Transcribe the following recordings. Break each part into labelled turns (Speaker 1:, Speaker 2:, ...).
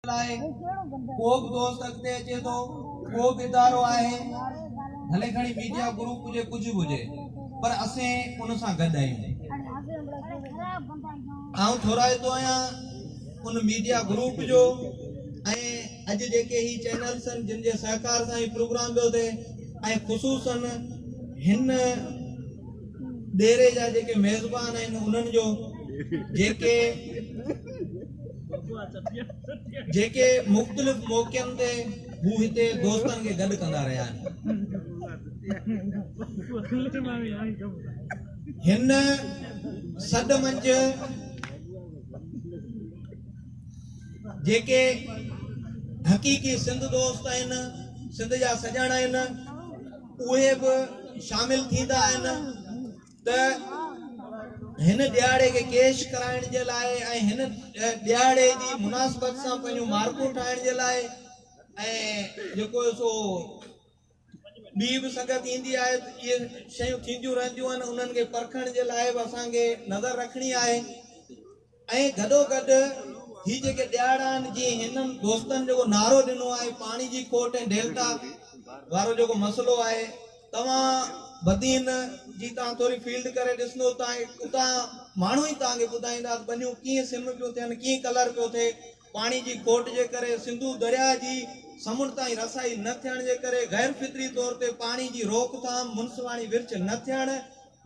Speaker 1: لاء ڪوبه دوست اڳتي اچي ٿو ڪوبه ادارو آهي ڀلي کڻي ميڊيا گروپ هجي ڪجهه به هجي پر اسين ان سان گڏ آهيون آئون ٿورائتو آهيان ان ميڊيا گروپ جو ۽ اڄ جيڪي هي چينلس آهن جن جي سهڪار سان هي پروگرام پيو ٿئي ۽ خصوصن هن ڏيري جا جيڪي ميزبان آهن انهن جو جيڪي جيڪي مختلف موقعن تي هو هتي دوستن کي گڏ ڪندا رهيا آهن. هن سڏ منجھ جيڪي حقيقي سنڌ دوست آهن، سنڌ جا سڄاڻ آهن، اهي به شامل ٿيندا آهن. ته هن ڏيهاڙي کي ڪيش ڪرائڻ جي لاء ۽ هن ڏيهاڙي جي مناسبت سان پنهنجون مارڪون ٺاهڻ جي لاء ۽ جيڪو سو ٻي به سنگت ايندي آهي اهي شيون ٿينديون رهنديون آهن انهن کي پرکڻ جي لاء به اسان کي نظر رکڻي آهي ۽ گڏوگڏ هي جيڪي ڏيهاڙا آهن جي هنن دوستن جيڪو نعرو ڏنو آهي پاڻي جي کوٽ ۽ ڊيلٽا وارو جيڪو مسئلو آهي توهان بدين جي تان ٿوري فيلڊ ڪري ڏسندو ته اتان ماڻهو ئي توهان کي ٻڌائيندا ته ٻنيون ڪيئن سم پيون ٿين ڪيئن ڪلر پيو ٿئي پاڻي جي کوٽ جي ڪري سنڌو درياء جي سمنڊ تائين رسائي نه ٿيڻ جي ڪري غير فطري طور تي پاڻي جي روڪ ٿام منصفاڻي ورڇ نه ٿيڻ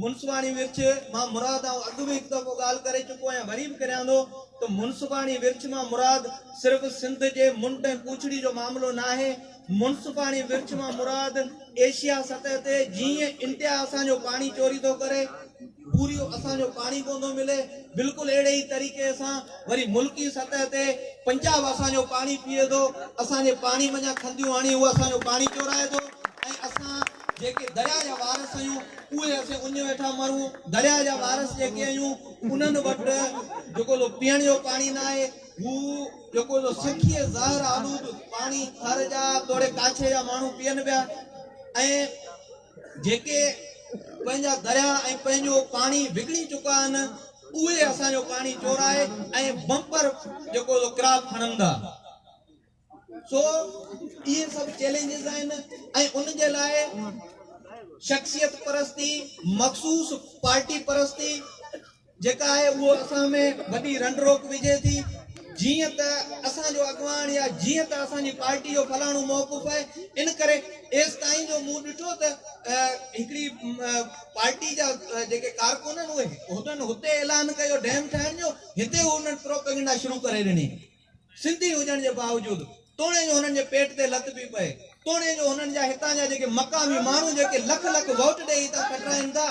Speaker 1: منصفاڻي ورڇ مان مراد آئون اڳ به هڪ دفعو ڳالهه ڪري چڪو آهيان وري به ڪريان ٿو ته منصفاڻي ورڇ مان مراد صرف سنڌ جي منڊ ۽ پوڇڙي جو معاملو ناهي منصفاڻي ورڇ مان مراد ايشيا سطح تي جيئن انٽيا اسان جو پاڻي چوري ٿو ڪري پوريو اسان جو پاڻي ڪون ٿو ملي بلڪل اهڙي ئي طريقي سان وري ملڪي سطح تي پنجاب اسان جو پاڻي پيئي ٿو اسان جي پاڻي منجهان کنديون هڻي هو اسان جو پاڻي چورائي ٿو ۽ اسان جيڪي درياء جا وارث آهيون، اهي اسين اڃ ويٺا مرون، درياء جا وارث جيڪي آهيون، انهن وٽ جيڪو سو پيئڻ جو پاڻي نه آهي، هو جيڪو سو سکيء زهر آلود پاڻي ٿر جا توڙي ڪاڇي جا ماڻهو پيئن پيا ۽ جيڪي پنهنجا درياء ۽ پنهنجو پاڻي وڪڻي چڪا آهن، اهي اسان جو پاڻي چورائي ۽ بمپر جيڪو سو ڪراپ کڻندا. سو اهي سڀ چئلينجز آهن ۽ ان جي لاء شخصيت پرستي مخصوص پارٽي پرستي جيڪا آهي اهو اسان ۾ وڏي رنڊ روڪ وجهي ٿي جيئن ته اسان جو اڳواڻ يا جيئن ته اسان جي پارٽي جو فلاڻو موقف آهي ان ڪري ايستائين جو مون ڏٺو ته هڪڙي پارٽي جا جيڪي ڪارڪن آهن اهي هتن هتي اعلان ڪيو ڊيم ٺاهڻ جو هتي انهن پروپيگنڊا شروع ڪري ڏني سنڌي هجڻ جي باوجود توڻي جو هنن جي پيٽ تي لت پئي پئي، توڻي جو هنن جا هتان جا جيڪي مقامي ماڻهو جيڪي لک لک ووٽ ڏيئي هتان کٽرائين ٿا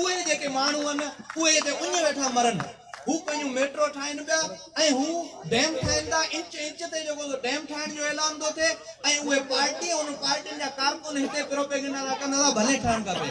Speaker 1: اهي جيڪي ماڻهو آهن اهي هتي اڃ ويٺا مرن. هو پنهنجون ميٽرو ٺاهين پيا ۽ هو ڊيم ٺاهين ٿا انچ انچ تي جيڪو سو ڊيم ٺاهڻ جو اعلان ٿو ٿئي ۽ اهي پارٽي ۽ انهن پارٽين جا ڪارڪن هتي پروپيگنڊا ٿا ڪن ٿا ڀلي ٺهڻ کپي.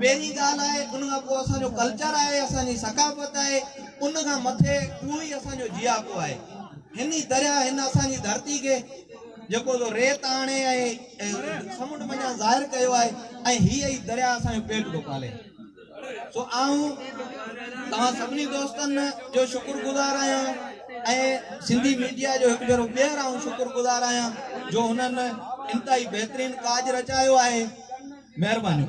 Speaker 1: پهرين ڳالهه آهي ان کان پوء اسان جو ڪلچر آهي اسان جي ثقافت آهي ان کان مٿي اهو ئي اسان جو جياپو آهي هن ئي درياهه هن اسان جي ڌرتي کي جيڪو سو ريت آڻي ۽ سمنڊ منجهان ظاهر ڪيو آهي ۽ هي ئي درياهه اسان جو پيٽ ٿو پالي سو آئون توهان سڀني دوستن جو شڪر گذار آهيان ۽ سنڌي ميڊيا جو هڪ ڀيرو ٻيهر آئون شڪر گذار آهيان جو هنن انتهائي بهترين ڪاڄ رچايو آهي
Speaker 2: مهرباني.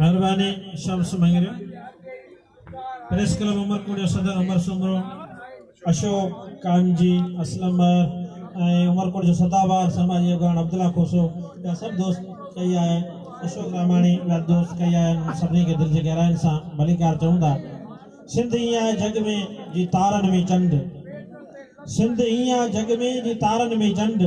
Speaker 2: مهرباني شمس مڱريو پريس ڪلب عمر ڪوٽ جو صدر عمر سومرو اشوڪ ڪامجي اسلم مهر ۽ عمر ڪوٽ جو سدا بهار سماجي اڳواڻ عبدالله کوسو جا سڀ دوست ڪئي آيا آهن اشوڪ رحماڻي جا دوست ڪئي آيا آهن سڀني کي دل جي گهراين سان ڀليڪار چئون ٿا سنڌ ائين آهي جڳ ۾ جي تارن ۾ چنڊ سنڌ ائين آهي جڳ ۾ جي تارن ۾ چنڊ